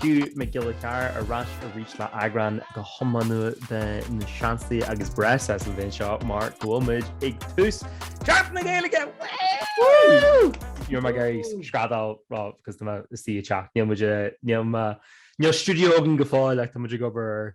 Hugh Mac Giolla Chearra ar ais arís le eagrán go hiomlán nua de Na Seansálaithe agus breis as an bhliain seo mar go bhfuil muid ag tús Seachtain na Gaeilge! Woo! Níl mé ag iarraidh screadaíl rá cos tá mé istigh i dteach. Níl muid i, níl mé, níl stiúideo againn go fóill ach tá muid ag obair ar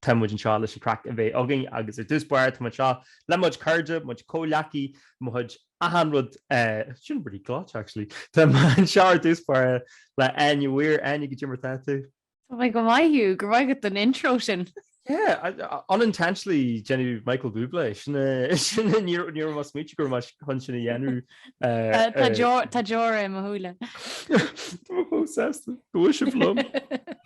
Tá muid anseo leis an craic a bheith againn agus ar dtús báire tá muid anseo le mo chuid cairde, mo chuid comhghleacaí, mo chuid achan rud, sin rud ghlait actually, tá muid anseo ar dtús báire le Áine Weir, Áine cad é mar atá tú. Tá mé go maith Hugh, go raibh maith agat don intro sin. Yeah, unintentionally déanamh Michael Bublé, sin é, ní raibh mé ag smaoineamh go raibh mé chun sin a dhéanamh. Tá deora i mo shúile. Tá mé chomh sásta, go bhfuil sibh liom.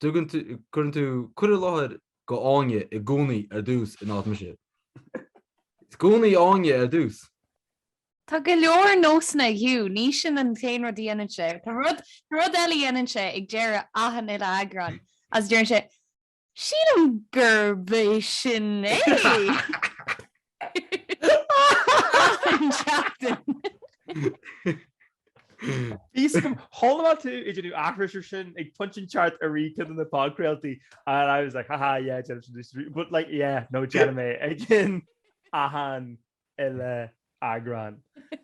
Tugann tú, cuireann tú, cuir i láthair go Áine i gcónaí ar dtús in áit mise. I gcónaí Áine ar dtús. Tá go leor nósanna ag Hugh, ní sin an t-aon rud a dhéanann sé. Tá rud, tá rud eile a dhéanann sé ag deireadh achan uile eagrán agus deireann sé, Sílim gurb é sin é! achan tseachtain. Bhí sé go hálainn má tú ag déanamh aithris air sin ag punt an ceart a rí cin na podchraoltaí and I was like haha yeah Jenna from District Street but like yeah no déanaim é ag cionn achan uile eagrán.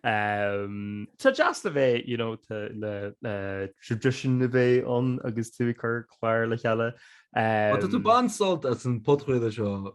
Um, Tá deas a bheith you know, tá le uh, tradition a bheith ann agus tú ag cur cláir le chéile. Tá tú Um, baint sult as an podchraoladh seo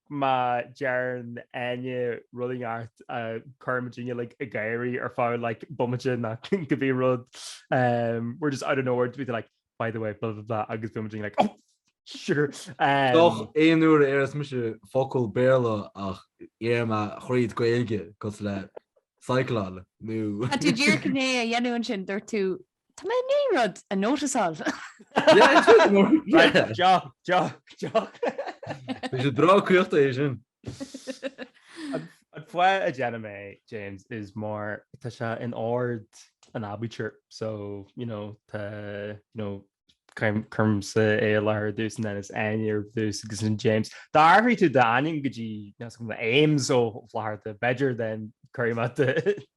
Má deireann éinne rud ineacht a chuireann muidne like ag gáire ar feadh like bomaite nó cibé rud we're just out of nowhere beidh tú like by the way blah blah blah agus bíonn muidne like oh sure um. Gach aon uair a déarfas mise focal Béarla ach déarfaidh mé thríd Gaeilge cosúil le cyclone nó. Tá tú díreach i ndiaidh é a dhéanamh ansin dúirt tú Tá mé i ndiaidh rud a nótasáil. Deoch, deoch, deoch. Bhí sé breá críochta é sin. An fáth a ndéanaim é, James, is mar tá sé in ord an aibítir so, you know, tá, you know, cuirimse é i láthair ar dtús and then it's Áine ar dtús agus ansin James. Dá athraigh tú d'ainm go dtí, meas go mba Ames ó láthair do, b'fhéidir then cuirim at the...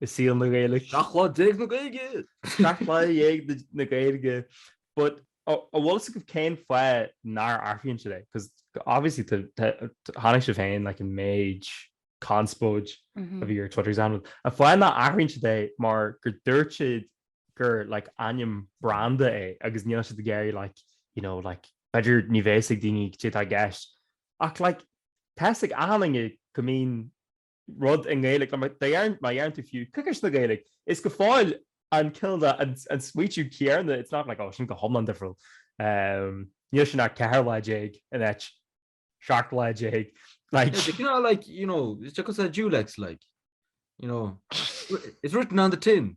i saol na Gaeilge. 17 lá na Gaeilge! 17 lá na Gaeilge! But an bhfuil a fhios agaibh cén fáth nár athraíonn siad é? Because obviously chonaic sibh féin like an méid conspóid a bhí ar Twitter is é an fáth nár athraíonn siad é mar gur dúirt siad gur like ainm branda é agus níl siad ag iarraidh like you know like b'fhéidir ní bheidh a fhios ag daoine cé atá i gceist ach like tá's ag achan duine go mbíonn rud i nGaeilge, mar deireann tú fiú coicís na Gaeilge, is go fóill an cineál de an smaointiú céarna, it's not like oh sin go hiomlán difriúil, níl sé ach 14 lá in áit 17 lá, like. Is cineál like, you know, is deacair a dual-x like, you know, it's written on the tin,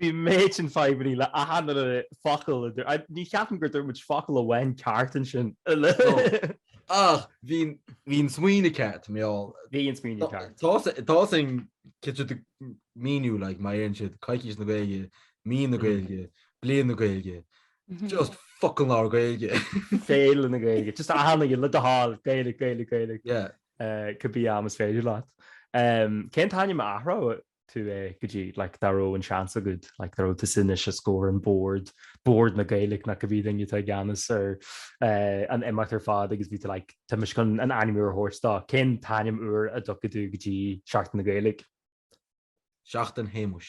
Bhí méid sin fadhbannaí le achan focal a dúirt. Aidhm, ní cheapaim gur dúirt muid focal amháin ceart ansin. Ach bhí an smaoineamh ceart, a mheall. Bhí an smaoineamh ceart. Tá sin cineál de míniú, like, má dhéanann siad coicís na Gaeilge, Mí na Gaeilge, Bliain na Gaeilge, just focail na Gaeilge. Féile na Gaeilge, just achan aon rud le do thoil, Gaeilge, Gaeilge, Gaeilge. Yeah. Cibé am is féidir leat. Cén t-ainm a n-athró tú é go dtí like dá raibh an seans agat like dá raibh tusa anois is go raibh an bord bord na Gaeilge nó cibé duine atá i gceannas ar eh an imeacht ar fad agus bhí tú like táimidne chun an ainm úr a thabhairt dó. Cén t-ainm úr a dtabharfá do Seachtain na Gaeilge? Seachtain Shéamuis.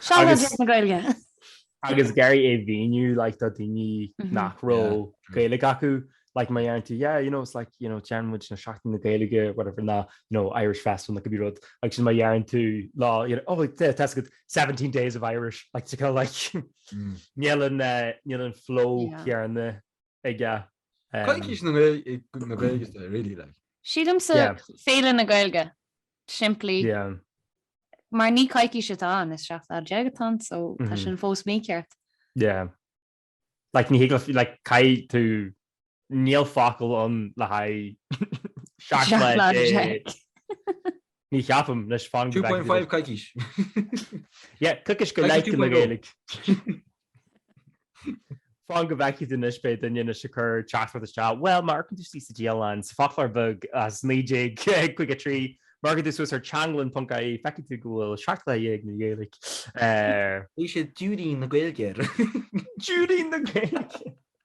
Seanadóir Deis na Gaeilge. Agus ag iarraidh é mhíniú like do daoine mhm. nach raibh Gaeilge acu like má deireann tú yeah you know it's like you know déanann muid na seachtain na Gaeilge whatever nó you know Irish festival nó cibé rud like sin má deireann tú lá you know oh that's good 17 days of Irish like to kind of like mm. níl an uh, níl an flow céarna aige Coicís na Gaeilge is ea really like. Sílimse Féile na Gaeilge simply mar ní coicís atá ann is 17 lá atá ann so tá sin fós mícheart. Yeah. Like ní thig liom like caithfidh tú níl focal ann le haghaidh 17 lá. Ní cheapaim, leis fan go bhfeicfidh tú leis. 2.5 coicís. Yeah, coicís go Coicís leith de na 2.0. Gaeilg. Fan go bhfeicfidh tú anois beidh duine anois ag cur teachtaireacht isteach, Bhuel, má amharcann tú suas sa Dialann, sa Foclóir Bheag as 1953, má amharcann tú suas ar teanglann.ie, feicfidh tú go bhfuil 17 lá na Gaeilge ar. Bhí sé Diúirín na Gaeilge ar. Diúirín na Gaeilge!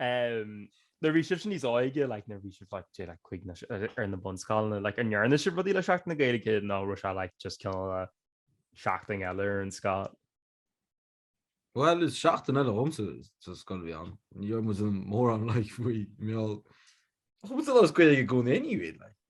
Nuair a bhí sibhse níos óige, like, nuair a bhí sibh like, say like cúig nó, ar na bunscoileanna, like an ndearna sibh rudaí le seachtain na Gaeilge nó raibh sé like just cineál a seachtain eile ar an scoil? Bhuel, is seachtain eile dhomsa sa scoil a bhí ann. Ní raibh mórán ann like faoi a mheall. Chuaigh muid ar an Ghaeilge i gcónaí anyway, like.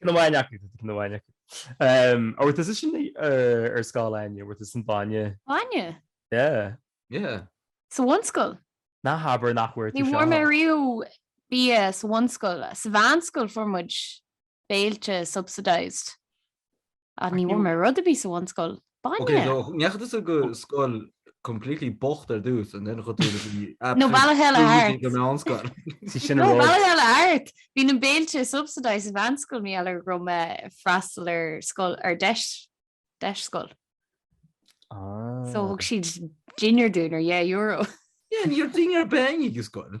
Cén amháin acu? Cén amháin acu? Ó, tá seisean ar scoil Áine, bhuel, tá san bainne. Bainne? Yeah. Yeah. Sa bhunscoil? Ná habair nach bhfuair tú seo. Ní bhfuair mé riamh bia sa bhunscoil. Sa mheánscoil fuair muid béilte subsidised. Ach ní bhfuair mé rud a bhí sa bhunscoil. Bainne! Ok, so ndeachaigh tú sa scoil completely bocht ar dtús and then chuir tú agus bhí absolute No Bealach Eile screaming Art. ag an meánscoil. Sí sin a No, rud. Bealach Eile Art! Bhí na béilte subsidised sa mheánscoil maidir leis go raibh mé freastal ar scoil, ar deis, deis scoil. Ah. So thug siad dinnéar dúinn ar dhá euro. Yeah, níor dinnéar beannaí go scoil.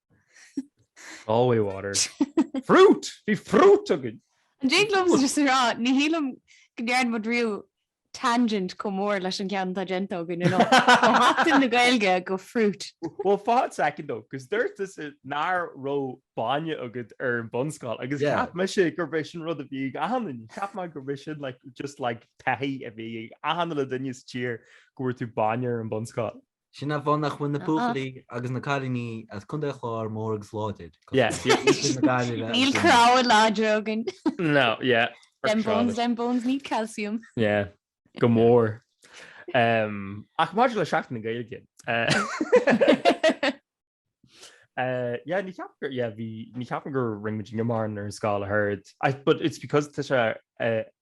Galway water. Fruit! Bhí fruit againn! An dtig liomsa a rá, ní shílim go ndearna muid riamh tangent chomh mór leis an gceann atá déanta againn inniu, ó Sheachtain na Gaeilge go fruit. Bhuel, fan soicind dó, cos dúirt tusa nár raibh bainne agat ar an mbunscoil agus cheap mise gurb é sin rud a bhí ag achan, cheap mé gurb é sin like just like taithí a bhí ag achan uile dhuine sa tír go bhfuair tú bainne ar an mbunscoil. Sin an fáth a bhíonn na buachaillí agus na cailíní as Contae Chláir mór agus láidir. Yes. Níl cnámha láidir againn. No, yeah. Them bones, them bones need calcium. Yeah, go mór. Um, ach maidir le seachtain na Gaeilge. Uh, yeah, ní cheapaim gur yeah, bhí ní cheapaim go rinne muidne mórán ar an scoil ach oiread. I, but it's because tá sé uh,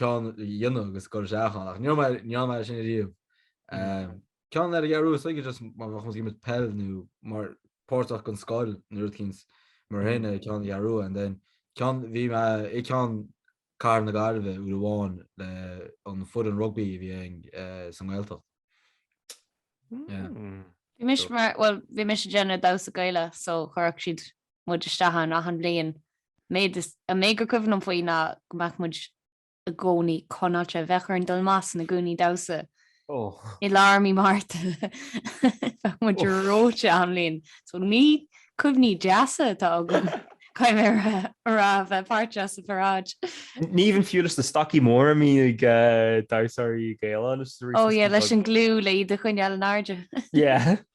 ceann a dhéanamh agus cur isteach ann achan ach níor mhaith níor mhaith leis sin ariamh ceann eile a dhearadh so is just má bheadh muid ag imirt peil nó mar páirteach den scoil nó rud éigint mar sin é ceann a dhearadh and then ceann bhí mé ag ceann Cathair na Gaillimhe uair amháin leis an chlub rugbaí a bhí againn sa nGaeltacht yeah. Bhí mise mar bhuel bhí mise déanamh damhsa Gaelach so chuirfeadh siad muid isteach ann achan bhliain. An méid is a mé gur cuimhin liom faoi ná go mbeadh muid i gcónaí conáilte ag bheith ag dul amach sna gúnaí damhsa. I lár mí Márta bheadh muid reoite achan bhliain. So ní cuimhní deasa atá agam cad é mar a bhí a bheith páirteach sa pharáid. Ní bhíonn fiú leis na stocaí móra a bhíonn ag damhsóirí Gaelacha. Ó yeah, leis an glue le iad a choinneáil in airde. Yeah.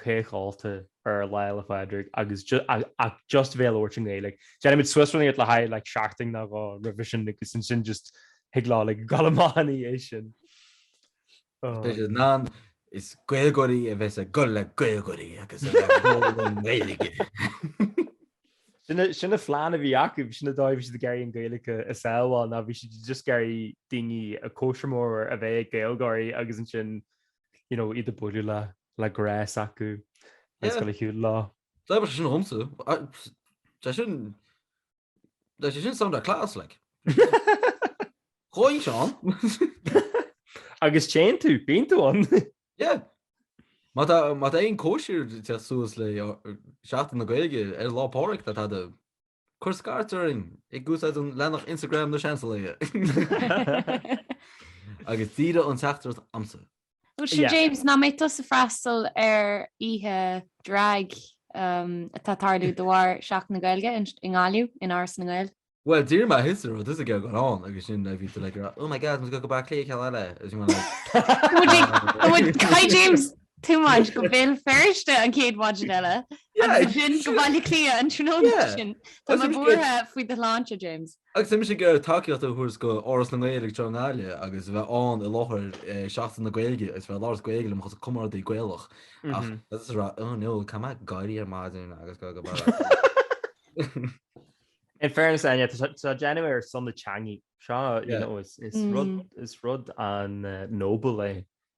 ceiliúradh ar Lá Fhéile Pádraig agus ach just bhéal óir sin é. Like déanaimid suas iad le haghaidh like seachtain nó dhó roimhe sin agus ansin just thig lá like dhul amach ina dhiaidh sin. Tá sé in am is Gaeilgeoirí a bheith ag gol le Gaeilgeoirí agus a bheith ag gol le nGaeilge. Sin an plean a bhí acu, sin an dóigh a bhí siad ag iarraidh an Ghaeilge a shábháil ná bhí siad just ag iarraidh daoine cóisir mhór a bheith ag Gaeilgeoirí agus ansin you know, iad ag bualadh le, le grás acu ag Yeah. scoil a shiúl lá. Dá bhfuil sé sin agamsa, a- ps- tá sin, tá sé sin saghas class, like. Chóin Seán. Agus téann tú, bíonn tú ann. Yeah. Má tá má tá aon cóisir thuas le seachtain na Gaeilge ar Lá Pádraig tá tá de Cuir scairt orainn ag úsáid an leathanach Instagram Na Seansálaithe agus díreach an teachtaireacht iontu. Bhuel seo James, an mbeidh tusa ag freastal ar oíche Drag atá ag tarlú de bharr Seachtain na Gaeilge i nGaillimh in Áras na nGael. Bhuel dúirt mé thíos ar rud is a gabháil ann agus sin a bhí tú like oh my god, agus go go Bleá Cliath ceann eile agus you were like. Tá muid like, tá muid, hi James! Too much, go Béal Feirste an chéad mhaidin eile agus ansin go Baile Átha Cliath an tráthnóna sin. Tá mé buartha faoi do shláinte, James. Agus bímse ag iarraidh tacaíocht a thabhairt go Áras na nGael ag deireadh na haille agus bheith ann i láthair Seachtain na Gaeilge agus bheith ag labhairt Gaeilge le mo chuid comrádaí Gaelach ach is a rá, oh no, tá mé ag gáirí ar maidin agus go go barr. In fairness Áine, tá sé á dhéanamh ar son na teanga so, you know, is rud an noble é.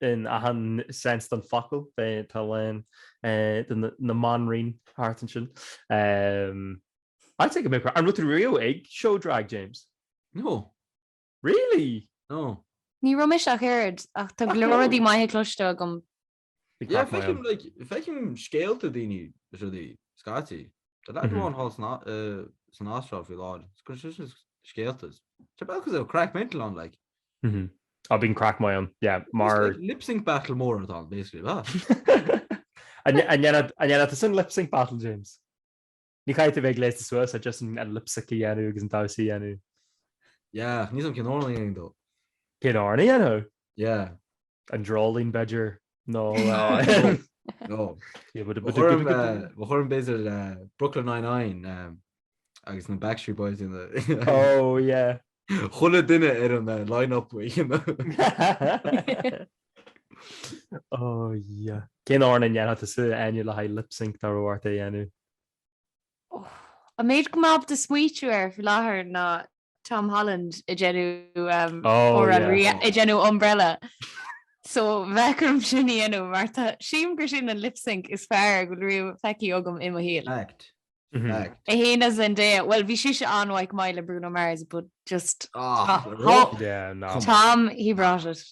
in achan sense den focal, tá linn na mbanríon thart ansin. I'll take a bit of credit. An raibh tú riamh ag seó drag, James? No. Really? No. Ní raibh mise ach oiread, ach tá go leor rudaí maithe cloiste agam. Yeah, feicim like, feicim scéalta daoine is rudaí scaití. Tá leagan amháin thall san á- eh, san Astráil faoi láthair. Is go sin scéaltas. Tá bealach is é craic mental ann, like. Mhm. Ah bíonn craic maith ann. Yeah, mar. It's like lip sync battle mór atá ann basically, ah. An ndéanfadh tú sin lip sync battle James? Ní chaithfidh tú bheith gléasta suas ach just an lip sync a dhéanamh agus an damhsa a dhéanamh. Yeah, níl a fhios agam cén t-amhrán a dhéanamh dó. Cén t-amhrán a dhéanamh? Yeah. An Dreoilín b'fheidir nó An cuimhin b'fheidir le Brooklyn Nine-Nine agus na Backstreet Boys is chuile dhuine ar an line-up chéanna. Cén t-amhrán a ndéanfadh tusa Áine le haghaidh lip sync dá raibh ort é a dhéanamh? An méid a bhfuil mé in ann smaoitiú air faoi láthair ná Tom Holland ag déanamh comhrá ag déanamh Umbrella. So bheadh orm sin a dhéanamh mar sílim gur sin an lip sync is fearr a bhfuil riamh feicthe agam i mo shaol. Fact. Fact. In éadan Zendaya. Bhuel bhí sise an-mhaith le Bruno Mars but just Tom, he brought it.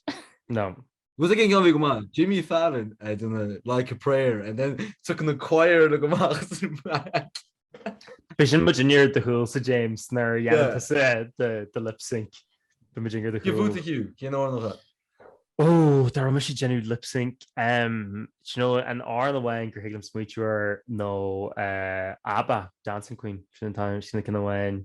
No. Rud éigin gan bhí go maith, Jimmy Fallon a deineadh Like a Prayer and then took na choir le go maith sa mbraic. Beidh muid inár do chúlsa James nuair a dhéanann tusa do lip sync. Beidh muid inár do chúl. Cén bhuaite fiú? Cén amhrán? Ó, dá raibh mise ag déanamh lip sync, do you know an t-amhrán amháin gur thig liom smaoitiú air nó ABBA, Dancing Queen, sin an t-amhrán sin na cinn amháin.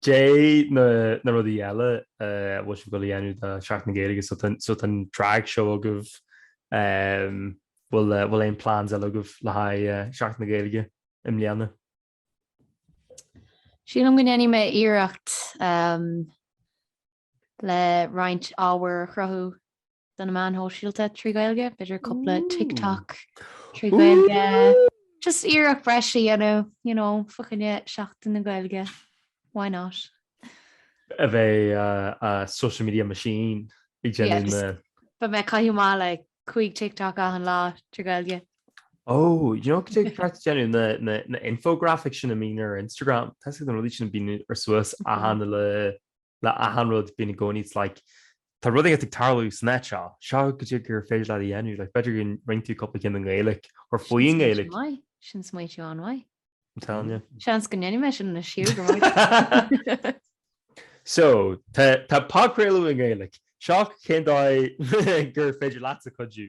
Caidé na rudaí eile a bhfuil sibh ag gabháil a dhéanamh do Sheachtain na Gaeilge so tá so tá drag show agaibh ehm bhfuil eh bhfuil aon plans eile agaibh le haghaidh eh Sheachtain na Gaeilge i mbliana? Sílim go ndéanfaidh mé iarracht ehm le roinnt ábhair a chruthú do na meáin shóisialta trí Ghaeilge, b'fhéidir cúpla TikTok trí Ghaeilge. Just iarracht breise a dhéanamh, you know, fá choinne Sheachtain na Gaeilge. Why not? A bheith a social media machine ag déanamh na. Beidh mé ag caitheamh amach like cúig TikTok achan lá trí Ghaeilge. Oh, you know cad é an craic déanamh na infographics sin a bíonn ar Instagram? Tá's agat na rudaí sin a bíonn ar suas a tháinig le le achan rud being a go needs like tá rud éigin ag tarlú san áit seo, seo caidé gur féidir leat a dhéanamh like b'fhéidir go ndéan tú cúpla ceann i nGaeilg or faoi an Ghaeilge. Sin smaoitiú an-mhaith. I'm telling you. Seans go ndéanfaidh mé sin anois fá go raibh. So, tá podchraoladh i nGaeilg. Seo cén dóigh gur féidir leatsa cuidiú.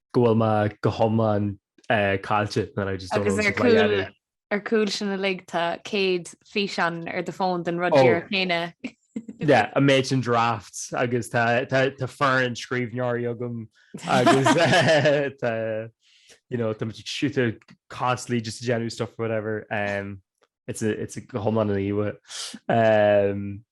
go bhfuil mé go hiomlán caillte and I just don't know what to be at. Ar chúl sin uilig tá 100 físeán ar do phone den rud díreach chéanna. Yeah, an méid sin drafts agus tá foireann scríbhneoirí agam agus tá you know tá muid ag siúta constantly just ag déanamh stuff whatever. Um, it's a, it's a go hiomlán an íomha. Um,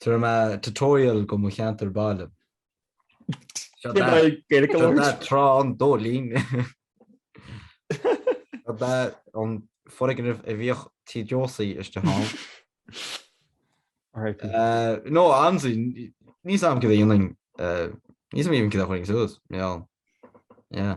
Tour nó tutorial de mo cheantar baile. Seo Cé mbeidh daoibh Gaeilge seo labhairt? daoibh Trá an Dóilín. Seo daoibh an foirgneamh a bhíodh Tí Josie istigh ann. RIP. Eh, No, honestly, níl fhios agam céard a dhéanfainn. eh, Níl fhios agam even céard a chuirfinn suas, yeah. Yeah.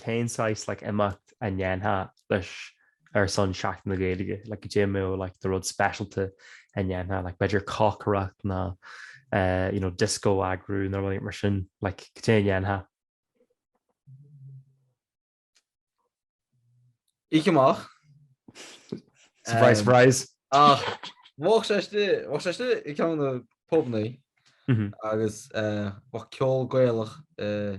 Cén saghas like imeacht a dhéanfá like ar son Seachtain na Gaeilge? Like caidé mar like do rud speisialta a dhéanfá, like b'fhéidir cócaireacht nó eh you know disco a eagrú nó rudaí mar sin, like caidé a dhéanfá? Oíche amach. Surprise Em, surprise. Ach bheadh sé istigh, bheadh sé istigh i gceann na pubannaí Mhm. agus eh bheadh ceol Gaelach eh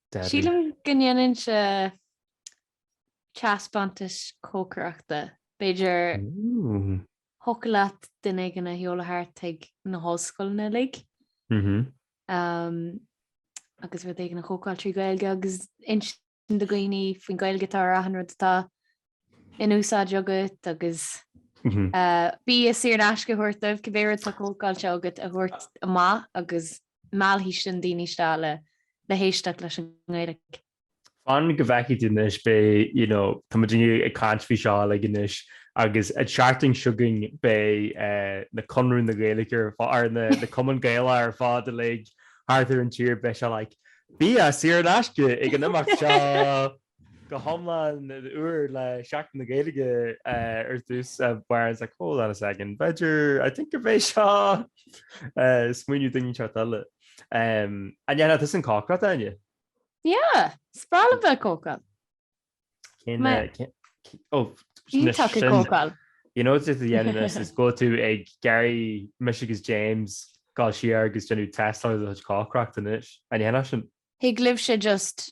Debbie. Sílim go ndéanfainnse teaspeántais cócaireachta. B'fhéidir thiocfadh leat duine éigin a sheoladh thart ag na hollscoileanna uilig agus rud éigin a chócáil trí Ghaeilge agus insint do dhaoine faoin Ghaeilge atá ar achan rud atá in úsáid agat agus bia saor in aisce a thabhairt dóibh cibé rud atá cócaráilte agat a thabhairt amach agus meallfaidh sin daoine isteach le héisteacht leis an nGaeilge. Fan go bhfeicfidh tú anois beidh, you know, tá muidne ag caint faoi seo uilig anois agus an tseachtain seo againn beidh na Conradh na Gaeilge ar ar na Cumainn Gaelacha ar fad uilig thart ar an tír beidh sé like bia saor in aisce ag an imeacht seo! Go hiomlán úr le Seachtain na Gaeilge ar dtús bear in mind on a second b'fhéidir I think go mbeidh seo smaoineamh daoine teacht eile. An ndéanfadh tusa an chócaireacht Áine? Yeah, is breá liom bheith ag cócaráil. Iontach ag cócaráil. You know just the end of this is go bhfuil tú ag iarraidh mise agus James dul siar agus déanamh test ar do chuid cócaireacht anois. An ndéanfadh sin? Thig libh sé just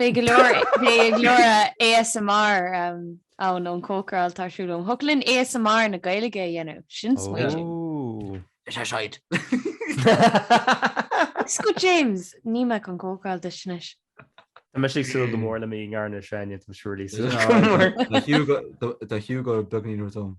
Beidh go leor beidh go leor ASMR um, ann ón chócaráil tá súil liom. Thig linn ASMR na Gaeilge a dhéanamh. Sin smaoineamh. Ooh. Is é seid. Is go James, ní bheadh an chócaráil duit anois. Tá mise ag súil go mór le mí na Samhna, tá mise really súil go mór. Tá sé go beagnach nuair dom.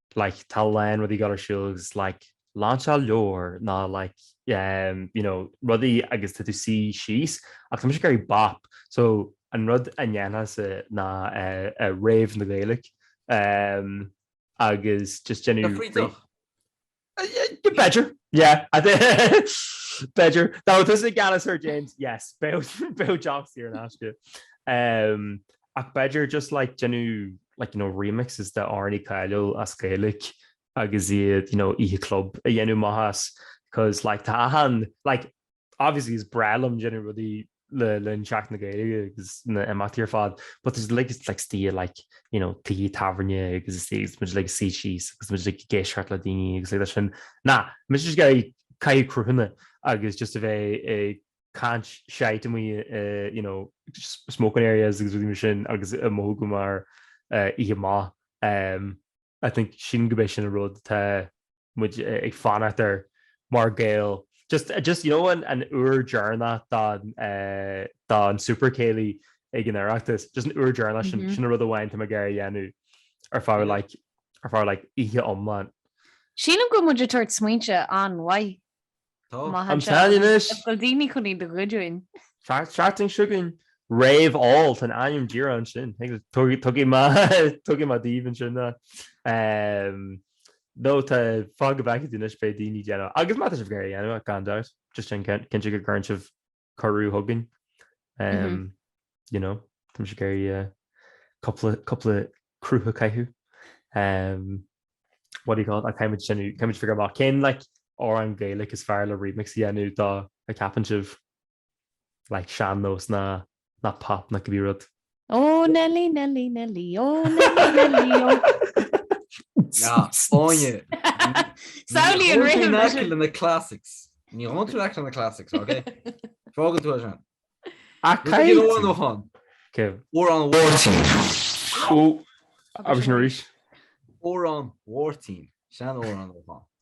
like tá aon rud ag dul ar siúl is like lainseáil leabhair nó like ehm you know rudaí agus tá tú i do shuí síos ach tá mise ag iarraidh bop so an rud a dhéanfainnse ná eh rave na Gaeilge ehm agus just déanamh Frithbheach? yeah b'fhéidir yeah I thi- heh b'fhéidir tá tusa geall ar sin James yes bheadh bheadh deoch saor in aisce ehm. Ach b'fhéidir just like déanamh like you know remixes de amhráin cháiliúla as Gaeilge agus iad you know oíche club a dhéanamh amach as 'cause like tá achan like obviously is breá liom déanamh rudaí le linn Seachtain na Gaeilge agus na himeachtaí ar fad but there's like it's like stíl like you know tí tábhairne agus is is muid like suí síos agus muid like ag éisteacht le daoine agus like sin nó muid just ag caitheamh craythurs agus just a bheith ag caint shite amuigh i you know smoking areas agus rudaí mar sin agus a mhothú go mar oíche amach. Umm I think sin go mbeidh sin an rud atá muid ag fanacht air mar Gael. Just just you know an an uair dheireanach de eh den Super Céilí ag an Oireachtas just an uair dheireanach sin sin an rud amháin atá mé ag iarraidh a dhéanamh ar feadh like ar feadh like oíche iomlán. Sílim go bhfuil muid ag tabhairt smaointe an-mhaith Maith do dhaoine anois. Is go bhfuil daoine chun iad a ghoid uainn. An tseachtain seo chugainn. Rave Óil tá an ainm díreach ansin. Thug mé thug mé daoibh ansin ná. No tá fan go bhfeicfidh tú anois beidh daoine déanamh agus má tá sibh ag iarraidh a dhéanamh gan dabht just déan cinnte go gcuireann sibh curtha chugainn. You know, tá siad ag iarraidh cupla, cupla cruth a chaitheamh. What do you call it? Ach táimid sin, táimid ag figiúr amach cén, like, amhrán Gaeilge is fearr le remix a dhéanamh de, an gceapann sibh? Like sean-nós ná, ná pop ná cibé rud. Ó Nellie, Nellie, Nellie, ó Nellie, Nellie, ó. Ná, fáinne. Samhlaigh an rithim leis. Ní le na classics. Ní théann tú leis na classics, ok? Fágann tú sin. A Cé caill! go bhfuil óchan? Céim. Amhrán Mháirtín. Ó, agus sin arís. Amhrán Mháirtín. Seanamhrán óchan.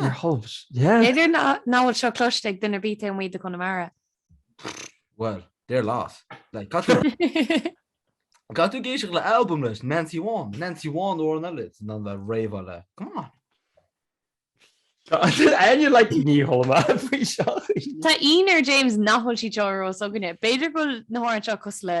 Ar thalamh, yeah. B'fhéidir nach nach bhfuil seo cloiste ag duine ar bith taobh amuigh de Chonamara. Bhuel, deir leat. Like, cad tú Cad tú ag éisteacht le album leis? Nancy One. Nancy One ó an eile is ná le réamhá le. Come on. Aine le ní thóla faoi seo. Tá ionadh ar James nach bhfuil siad seo ar eolas againne. B'fhéidir go bhfuil na hamhráin seo cosúil le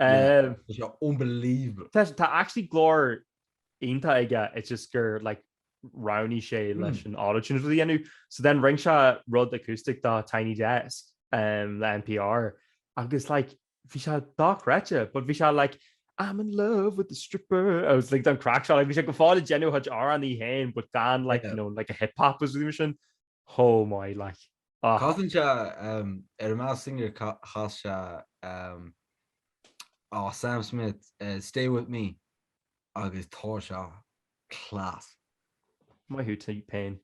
Tá sé unbelievable. Tá tá actually glór iontach aige it's just gur like roghnaigh sé leis an autotune rud a dhéanamh. So then rinne sé rud acoustic do Tiny Desk um, le NPR agus like bhí sé dochreidte but bhí sé like I'm in love with the stripper I was like don crack seo like bhí sé go fóill ag déanamh a chuid amhrán féin but gan like, you know, like an hip hop is rud a bhí sin. chomh maith like agus casann sé ar an Masked Singer chas sé oh Sam Smith stay with me agus tá sé class. Maith thú T-Pain.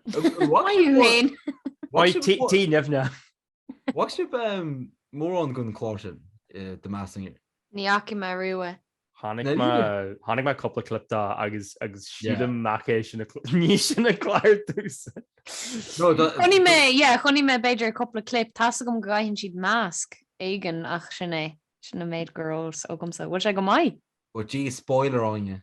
Maith thú féin. Maith thú T-Nimhne. An bhfaca sibh mórán den chlár sin The Masked Singer. Ní fhaca mé riamh é. Chonaic mé cúpla clip de agus sílim nach é sin ní sin a clár dtús. Chonaic mé, yeah, chonaic mé b'fhéidir cúpla clip. Tá's agam go gcaitheann siad masc éigin ach sin é. Sin an méid ar eolas agamsa. Bhfuil sé go maith? Ó jeez, spoiler, Áine.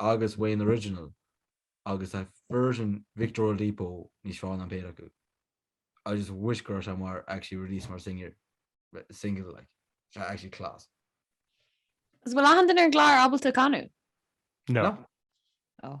agus an original agus tá version Victor Oladipo níos fearr ná an péire acu. I just wish go raibh sé mar actually release mar singer single like sé actually class. An bhfuil aon duine ar an gclár ábalta canadh? No. Oh.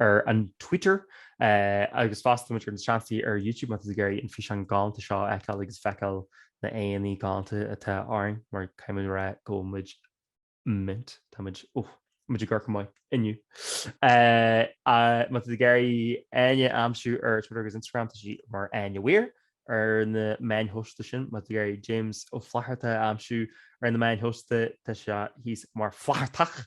ar Twitter agus fosta tá muid ar Na Seansálaithe ar YouTube má tá tú ag iarraidh an físeán galánta seo a fheiceáil agus feiceáil na héadaí galánta atá orainn mar caithfidh muid a rá go bhfuil muid mint. Tá muid, oh, muid ag amharc go maith inniu. Má tá tú ag iarraidh Áine a aimsiú ar Twitter agus Instagram tá sí mar Áine Weir ar na meáin shóisialta sin. Má tá tú ag iarraidh James Ó Flatharta a aimsiú ar na meáin shóisialta tá sé thíos mar Flathartach.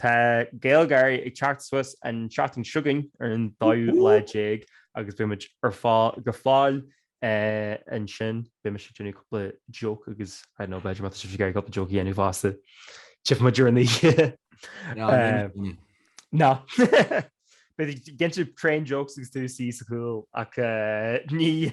Tá GaelGÁIRÍ ag teacht suas an seachtain s'againn ar an dóú lá déag agus b muid ar fá go fáil eh, an sin b me sé dúna cupla joke agus nó b beidir mat si gar cupla joke dhéanú fásta. Tif mu dúna ná. Be genú train jokes agus tú sí saúil ach eh, ní